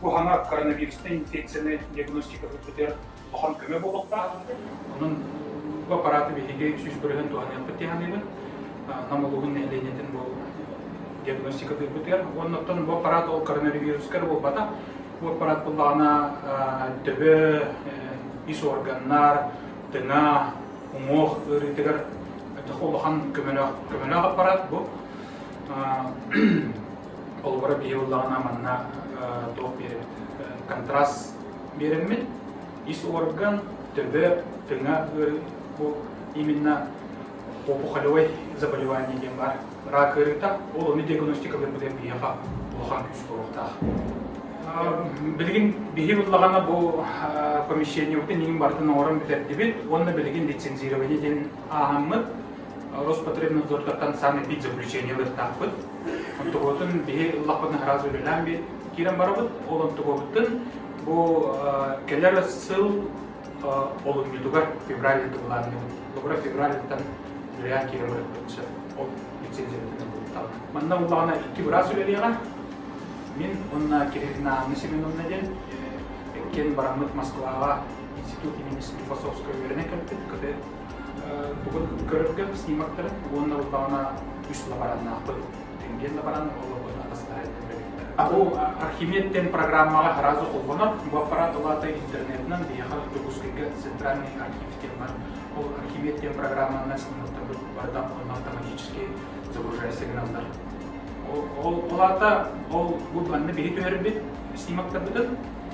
Бу хаана коронавирустан инфекцияны диагностикаһыт бүтэр улахан көмө буолуохтаах. Онон бу аппараты биһиги сүүс бырыһын туһаныахпыт тиһаныгын. Нам улууһун нэһилиэнньэтин бу диагностикатыыр бүтэр. Уонна оттон бу аппарат ол коронавирускар буолбата. Бу аппарат буллаҕына төбө, ис органнар, тыҥа, уҥуох ыарыытыгар улахан көмөлөөх көмөлөөх аппарат бу. Холобура биһи ыллаҕына маннаах туох биэрэбит контраст биэрэммит. Ис орган төбө, тыҥа ыарыы бу именно опухолевой заболевание диэн бар. Рак ыарыыта, ол ону диагностикалыырбытын биһиэхэ улахан күүс буолуохтаах. Билигин биһи ыллаҕана бу помещениебытын иин бартын оҥорон бүтэрдибит уонна билигин лицензирование диэн ааһаммыт. Роспотребнадзортартан саамай пит заключение ылыктаахпыт. Онтугутун биһи ыллахпытын араас үлэлээн би киирэн барабыт. Ол онтугубуттан бу келер сыл олунньутугар февральда тубулаанныбыт. Бобура февральдаттан үлэлээн киирэн барыппыт сөп. Ол лицензиятын булуттаҕа. Манна буллаҕына икки быраас үлэлиэҕэ. Мин онна Кириллина Анна Семеновна диэн эккен бараммыт Москваҕа институт имени философскай үөрэнэ кэлбит, кыты Бүгүн көрөргө снимактарын уонна буоллаҕына үс лабораннаахпыт. Тенген лаборан олорбут атастары Бу Архимедтен программаҕа сразу холбонор. Бу аппарат улаата интернетынан бияха Дьокускайга центральный архив тема. Ол Архимед диэн программанан снимактарбыт барыта автоматически загружая сигналдар. Ол улаата ол бу манна биһи түһэрбит снимактарбытын